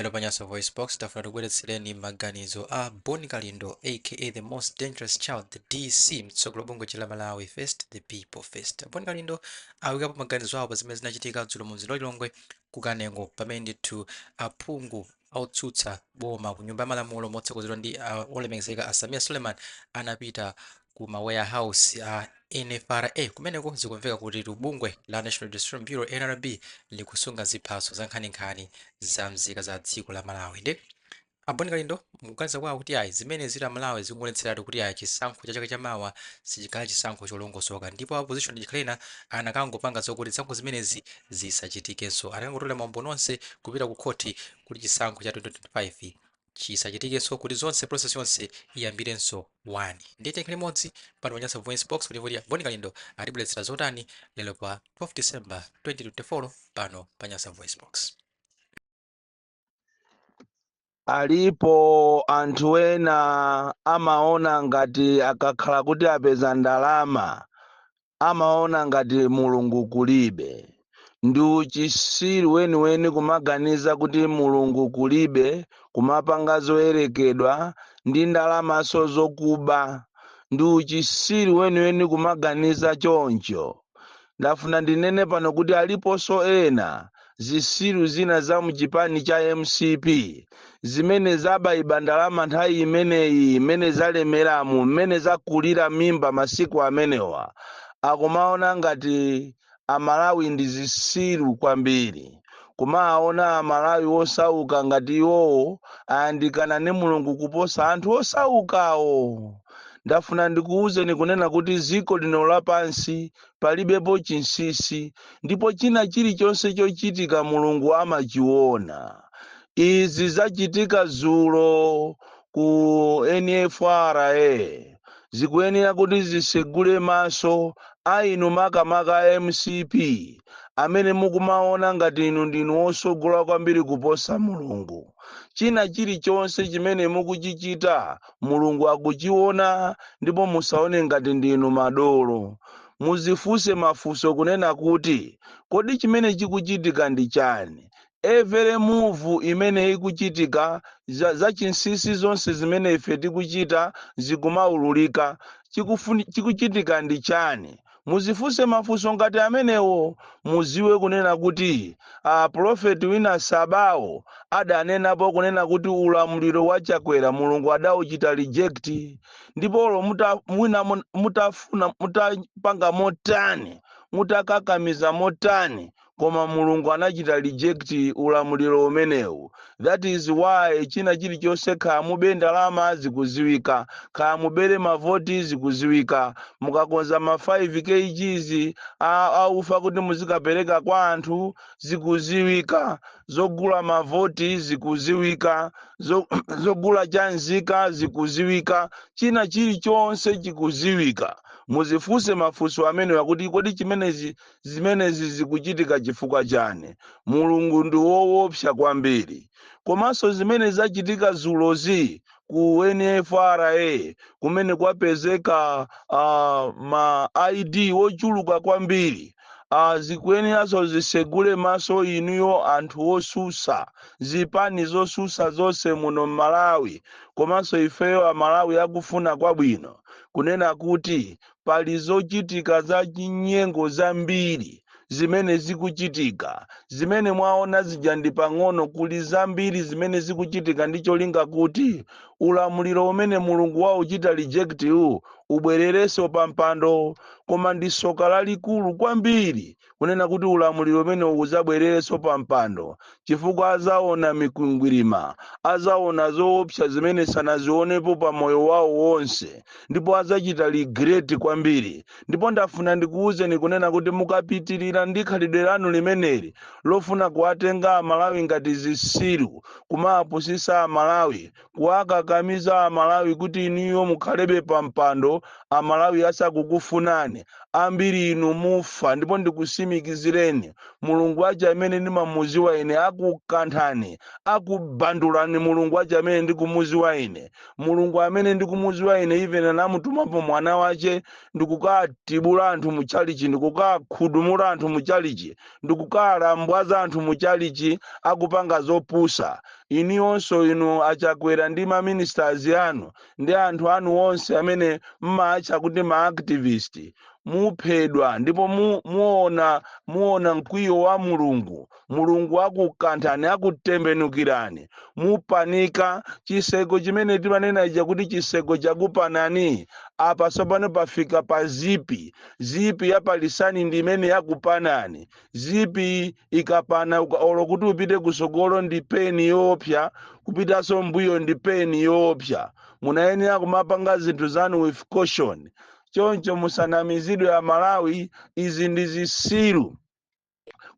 Lero pa Nyasa VoiceBox, tafuna tikubweretsereni maganizo a Bon Kalindo aka the most dangerous child, the DC, mtsogoleri wa bungwe lija la Malawi first, the people first. Bon Kalindo awikapo maganizo awo pa zimene zinachitika dzulo mu mzinda wa Lilongwe ku Kanengo pamene ndithu aphungu otsutsa boma ku nyumba ya malamulo motsogozedwa ndi uh, olemekezeka a Sameer Suleman anapita ku ma warehouse a NFRA kumeneko zikumveka kutitu bungwe la National Registration Bureau NRB likusunga ziphaso zankhaninkhani za mzika za dziko la Malawi nde a Bon Kalindo mukuganiza kwawo kuti ayi zimenezi aMalawi zikungoonetseratu kuti ayi chisankho cha chaka chamawa sichikhala chisankho cholongosoka ndipo opposition achikhala ena anakangopanga zokuti zisankho zimenezi zisachitikenso anakangotolera maumboni onse kupita ku khoti kuti chisankho cha 2025 chisachitikenso kuti zonse process yonse iyambirenso 1 ndiye tiyeni tikhale limodzi pano pa Nyasa Voice Box kuti kuti a Bon Kalindo atibweretsera zotani lero pa 12 December 2024 pano pa Nyasa Voice Box alipo anthu ena amaona ngati akakhala kuti apeza ndalama amaona ngati Mulungu kulibe. Ndi uchisiru weniweni kumaganiza kuti Mulungu kulibe kumapanga zoyerekedwa ndi ndalamaso zokuba. Ndi uchisiru weniweni kumaganiza choncho. Ndafuna ndinene pano kuti aliposo ena zisiru zina za mchipani cha mcp zimene zabaiba ndalama nthawi imeneyi mmene zalemeramu mmene zakulira mimba masiku amenewa akumaona ngati amalawi ndi zisiru kwambiri kumaona amalawi osauka ngati iwowo ayandikana ndi mulungu kuposa anthu osaukawo ndafuna ndikuwuzeni kunena kuti ziko lino lapansi palibepo chinsisi, ndipo china chilichonse chochitika Mulungu amachiona. Izi zachitika zulo ku NFRA zikuyenera kuti zisegule maso a inu makamaka a mcp amene mukumaona ngati inu ndinu osogola kwambiri kuposa Mulungu. China chilichonse chimene mukuchichita Mulungu akuchiona ndipo musaone ngati ndinu madolo. Muzifuse mafuso kunena kuti kodi chimene chikuchitika ndi chani? Every move imene ikuchitika, za zachinsisi zonse zimene ife tikuchita zikumaululika, chikufuni chikuchitika ndi chani? Muzifunse mafunso ngati amenewo muziwe kunena kuti a pulofeti winawake Sabao adanenapo kunena kuti ulamuliro wa Chakwera Mulungu adauchita reject ndipo olo muta, mwina mun- mutafuna mutapanga motani mutakakamiza motani koma Mulungu anachita reject ulamuliro umenewu that is why china chilichonse kaya mube ndalama zikuziwika kaya mubere mavoti zikuziwika mukakonza ma 5 kgs a- aufa kuti muzikapereka kwa anthu zikuziwika zogula mavoti zikuziwika zo- zogula cha nzika zikuziwika china chilichonse chikuziwika muzifunse mafunso amenewa kuti kodi chimenezi Zimenezi zikuchitika chifukwa chani? Mulungu ndi woopsa kwambiri. Komanso zimene zachitika dzulozi ku NFRA kumene kwapezeka uh, ma ID ochuluka kwambiri uh, zikuyeneranso zisegule maso inuyo anthu osusa zipani zosusa zonse muno m'Malawi komanso ifeyo amalawi akufuna kwabwino kunena kuti pali zochitika za chinyengo zambiri zimene zikuchitika zimene mwaona zija ndi pang'ono kuli zambiri zimene zikuchitika ndi cholinga kuti ulamuliro umene mulungu wauchita reject uwu ubwererenso pa mpando koma ndi soka lalikulu kwambiri kunena kuti ulamuliro umenewu udzabwererenso pampando, chifukwa adzaona mikwingwirima, adzaona zoopsa zimene sanazionepo pa moyo wawo wonse, ndipo adzachita regret kwambiri. Ndipo ndafuna ndikuuzeni kunena kuti mukapitirira ndi khalidwe lanu limeneli lofuna kuwatenga Amalawi ngati zitsiru, kumawapusitsa Amalawi, kuwakakamiza amalawi kuti inuyo mukhalebe pampando amalawi asakukufunani ambiri inu mufa ndipo ndikusimikizireni mulungu wache amene ndimamuziwa ine akukanthani akubandulani mulungu wache amene ndikumuziwa ine mulungu amene ndikumuziwa ine even anamutumapo mwana wache ndikukatibula anthu muchalichi ndikukakhudumula anthu muchalichi ndikukalambwaza anthu mu chalichi akupanga zopusa inuyonso inu a Chakwera ndi ma ministers anu ndi anthu anu onse amene mmaatcha kuti ma activist muphedwa ndipo mu, muona muona mkwiyo wa mulungu mulungu akukanthani akutembenukirani mupanika chiseko chimene timanena ija kuti chiseko chakupanani apa tsopano pafika pa zipi zipi ya palisani ndi imene yakupanani zipi ikapana uka- olo kuti upite kusogolo ndi pain yoopsa kupitaso mbuyo ndi pain yoopsa munayenera kumapanga zinthu zanu with caution choncho musanamizidwe amalawi izi ndi zisiru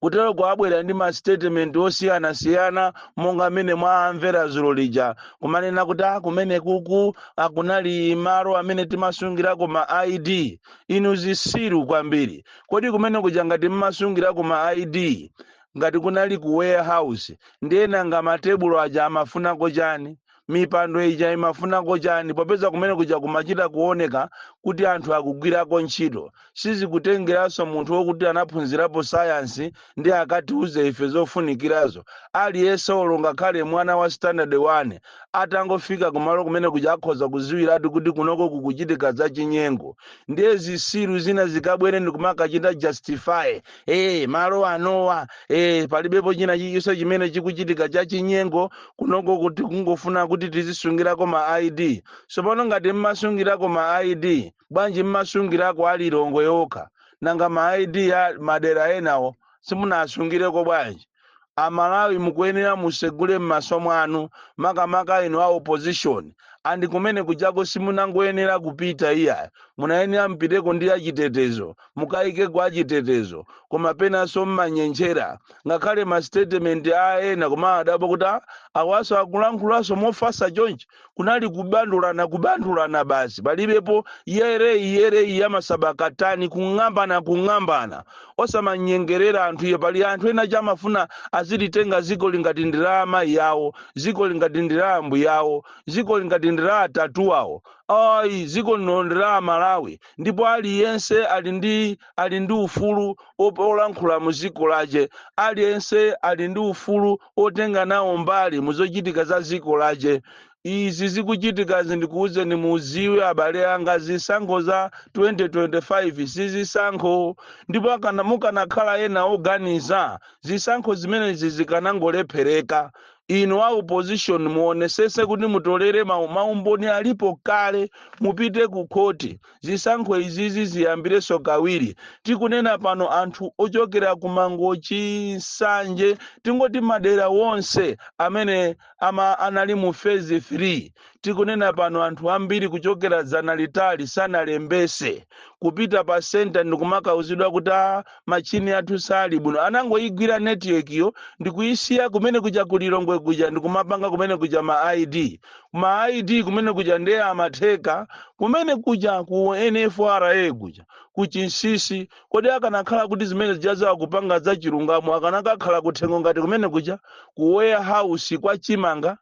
kutero kwabwera ndi masitetimenti osiyanasiyana monga mmene mwamvera zulo lija kumanena kuti a kumene kuku akunali malo amene timasungirako ma id inu zisiru kwambiri kodi kumene kuja ngati mmasungirako ma id ngati kunali ku warehouse ndiye nanga matebulo aja amafunako chani mipando ija imafunako chani popeza kumene kuja kumachita kuoneka kuti anthu akugwirako ntchito sizikutengeranso munthu wokuti anaphunzirapo sayansi ndiye akatiuze ife zofunikirazo aliyense olo ngakhale mwana wa standard 1 atangofika kumalo kumene kuja akhoza kuziwiratu kuti kunoko kukuchitika zachinyengo ndiye zisiru zina zikabwere ndikumakachita justify ee malo anowa ee palibepo china chilichonse chimene chikuchitika cha chinyengo kunoko kuti kungofuna kuti tizisungirako ma id tsopano ngati mmasungirako ma id bwanji mmasungirako a Lilongwe yokha nanga ma id a madera enawo simunasungireko bwanji Amalawi mukuyenera musegule mmaso mwanu makamaka inu a opposition andi kumene kujako simunangoyenera kupita iyayi munayenera mupiteko ndi achitetezo mukayikeko achitetezo koma penanso mmanyentchera ngakhale ma statement a ena kumawadabwa kuti "Ah, awaso akulankhulanso mofasa chonchi kunali kubandulana kubandulana basi palibepo yereyi yereyi yamasabakatani kung'ambana kung'ambana osamanyengerera anthu iyo pali anthu ena tcha amafuna azilitenga ziko li ngati ndi la amayi awo ziko li ngati ndi la ambuye awo ziko li ngati ndi la atate awo ayi ziko lino ndi la amalawi ndipo aliyense ali ndi ali ndi ufulu op- olankhula mu ziko lache aliyense ali ndi ufulu otenga nawo mbali muzochitika za ziko lache. Izi zikuchitikazi ndikuuzeni muziwe abale anga zisankho za 2025 sizisankho ndipo akana mukanakhala ena oganiza zisankho zimenezi zikanangolephereka inu a opposition muonesese kuti mutolere mau maumboni alipo kale mupite ku khoti Zisankho izizi ziyambireso kawiri. Tikunena pano anthu ochokera ku Mangochi, Nsanje tingoti madera wonse amene ama anali mu phase 3. Tikunena pano anthu ambiri kuchokera dzana litali sanalembese. Kupita pa centre ndikumakauzidwa kuti aah machine athu sali bwino. Anangoyigwira network-yo ndikuyisiya kumene kuja ku Lilongwe kuja ndikumapanga kumene kuja ma ID. ma ID kumene kuja ndiye amatheka kumene kuja ku NFRA kuja kuchinsisi kodi akanakhala kuti zimene zija zakupanga za chilungamo akanakakhala kuthengo ngati kumene kuja ku warehouse kwa chimanga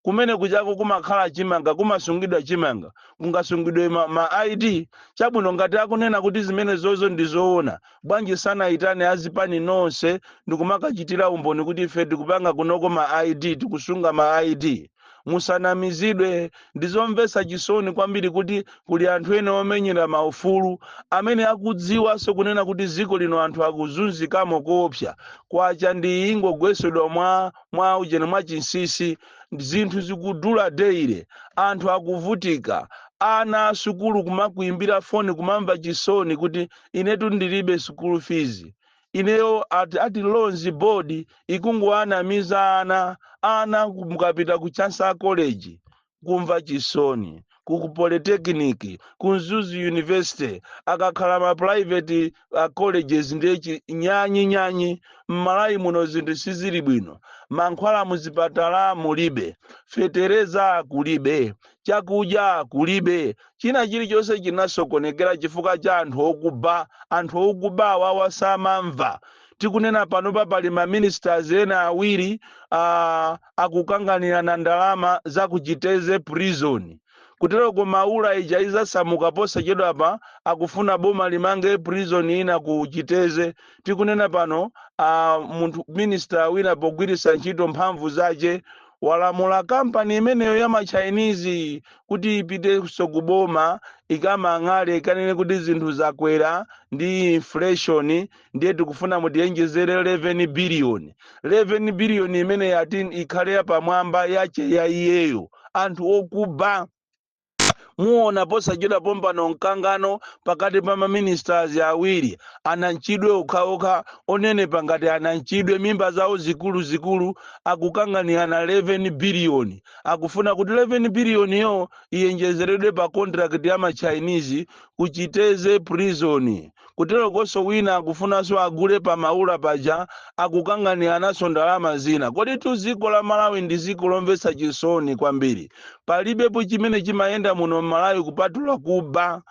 kumene kujako kumakhala chimanga kumasungidwa chimanga kungasungidwe ma, ma id chabwino ngati akunena kuti zimene zozo ndi zoona bwanji sanayitane azipani nonse ndikumakachitira umboni kuti ife tikupanga kunoko ma id tikusunga ma id musanamizidwe ndizomvetsa chisoni kwambiri kuti kuli anthu ena omenyera maufulu amene akudziwanso kunena kuti dziko lino anthu akuzunzikamo koopsa kwacha ndi ingogwesedwa mwa mwa ujeni mwa chinsisi zinthu zikudula daily anthu akuvutika ana asukulu kumakuimbira foni kumamva chisoni kuti inetu ndilibe school fees ineyo ati ati loans board ikungowanamiza ana ana ku- mukapita ku chancellor college kumva chisoni ku ku polytechnic ku mzuzu university akakhala ma private uh, colleges ndiye nyanyi nyanyi m'malawi muno zinthu sizili bwino mankhwala muzipatala mulibe fetereza kulibe chakudya kulibe China chilichonse chinasokonekera chifukwa cha anthu okuba. Anthu okuba awawa samamva. Tikunena panopa pali ma ministers ena awiri a akukanganirana ndalama za ku Chitedze prison. Kuteroko Maula ija izasamuka posachedwapa akufuna boma limange prison ina ku Chitedze. Tikunena pano a munthu minister wina pogwiritsa ntchito mphamvu zache walamula company imeneyo ya ma Chinese kuti ipitenso ku boma ikamang'ale ikanene kuti zinthu zakwera ndi inflation ndiye tikufuna mutiyenjezere 11 biliyoni 11 biliyoni imeneyo ati ikhale yapamwamba yache ya iyeyo anthu okuba muona posachedwa pompano mkangano pakati pa maministers awiri ananchidwe okhaokha onenepa ngati ananchidwe mimba zawo zikuluzikulu akukanganirana 11 biliyoni akufuna kuti 11 biliyoniyo iyenjezeredwe pa kontrakiti ya machinese ku chitedze prison kuterokonso wina akufunanso agule pa maula paja akukanganiranaso ndalama zina koditu dziko la malawi ndi dziko lomvetsa chisoni kwambiri palibepo chimene chimayenda muno m'malawi kupatula kuba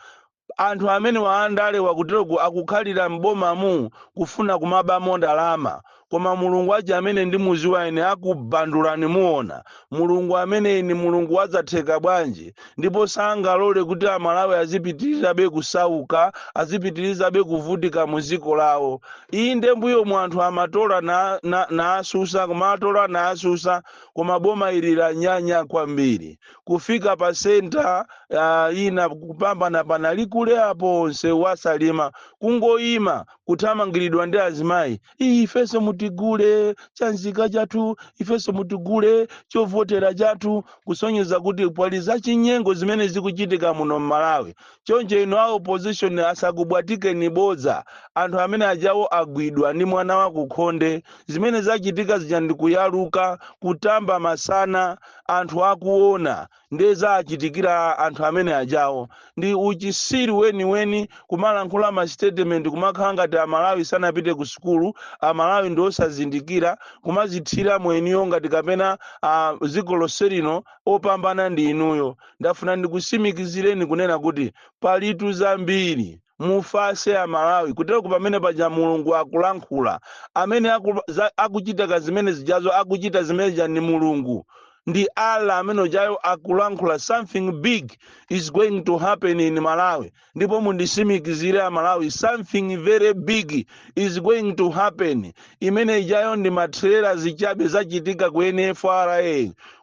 anthu amenewa andalewa kuteroku akukhalira m'bomamu kufuna kumabamo ndalama koma mulungu aja amene ndimuziwa ine akubandulani muona mulungu ameneyi ni mulungu wa zatheka bwanji ndipo sangalole kuti amalawi azipitirizabe kusauka azipitirizabe kuvutika mu dziko lawo inde mbuyomu anthu amatola na, na, naasusa kumatola naasusa koma boma ili lanyanya kwambiri kufika pa senta uh, ina ku Kaphatenga panali kule apo nsewu wa Salima kungoyima kuthamangiridwa ndi azimayi iyi ifenso mutigule chanzika chathu ifenso mutigule chovotera chathu kusonyeza kuti pali zachinyengo zimene zikuchitika muno m'malawi choncho inu a opposition asakubwatikeni bodza anthu amene ajawo agwidwa ndi mwana wakukhonde zimene zachitika zija ndikuyaluka kutamba masana anthu akuona ndiye zachitikira anthu amene ajawo ndi uchisiru weniweni kumalankhula masitetementi kumakhala ngati amalawi sanapite ku sukulu amalawi ndi osazindikira kumazithira mwenuyo ngati kapena ah, dziko lonse lino opambana ndi inuyo ndafuna ndikusimikizireni kunena kuti palitu zambiri mufase a malawi kutero ku pamene paja mulungu akulankhula amene aku, za, akuchita ka zimene zijazo akuchita zimene zija ndi mulungu ndi allah amene ujayo akulankhula something big is going to happen in malawi ndipo mundisimikizire a malawi something very big is going to happen imene ijayo ndi matrela zichabe zachitika ku nfra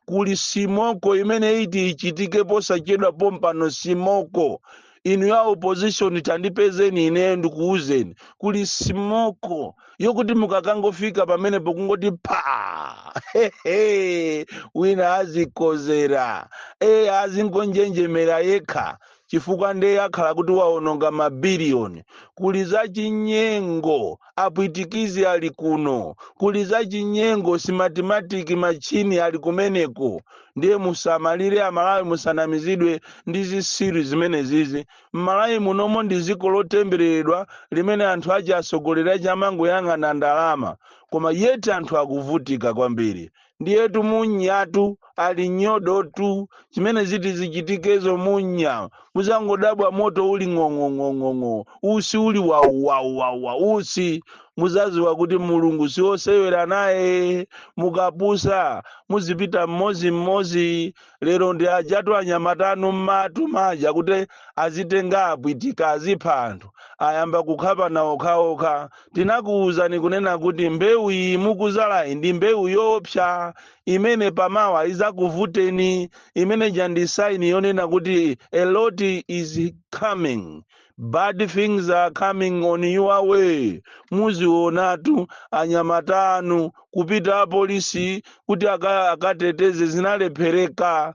kuli simoko imene iti ichitike posachedwa pompano simoko inu a opposition tandipezeni ineyo ndikuwuzeni kuli simoko yokuti mukakangofika pamenepo kungoti pha hehe wina azikozera eya azingonjenjemera yekha chifukwa nde akhala kuti waononga mabiliyoni kuli za chinyengo apwitikizi ali kuno kuli zachinyengo simatimatiki matchini ali kumeneko ndiye musamalire amalawi musanamizidwe ndi zisiru zimenezizi mmalawi munomo ndi dziko lotembereredwa limene anthu ache atsogoleri ache amangoyang'ana ndalama koma yeti anthu akuvutika kwambiri ndiyetu munyatu ali nyodotu chimene ziti zichitikezo munya muzangodabwa moto uli ng'ong'ong'ong'ong'o usi uli wauwauwawa usi muzaziwa kuti mulungu siosewera naye mukapusa muzipita mmozi mmozi lero ndi ajatu anyamata anu mmatu maja kuti azitenga apwitika azipha anthu ayamba kukhapana okhaokha tinakuwuzani kunena kuti mbewu iyi mukuzalayi ndi mbewu yoopsa imene pamawa izakuvuteni imene ija ndi saini yonena kuti a lot is coming bad things are coming on your way muzionatu anyamata anu kupita apolisi kuti aka- akateteze zinalephereka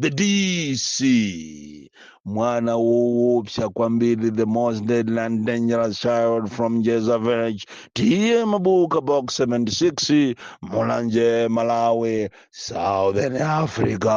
the dc mwana woopsa kwambiri the most deadly and dangerous child from jeza village tiye mabuka box 76 mulanje malawi southern africa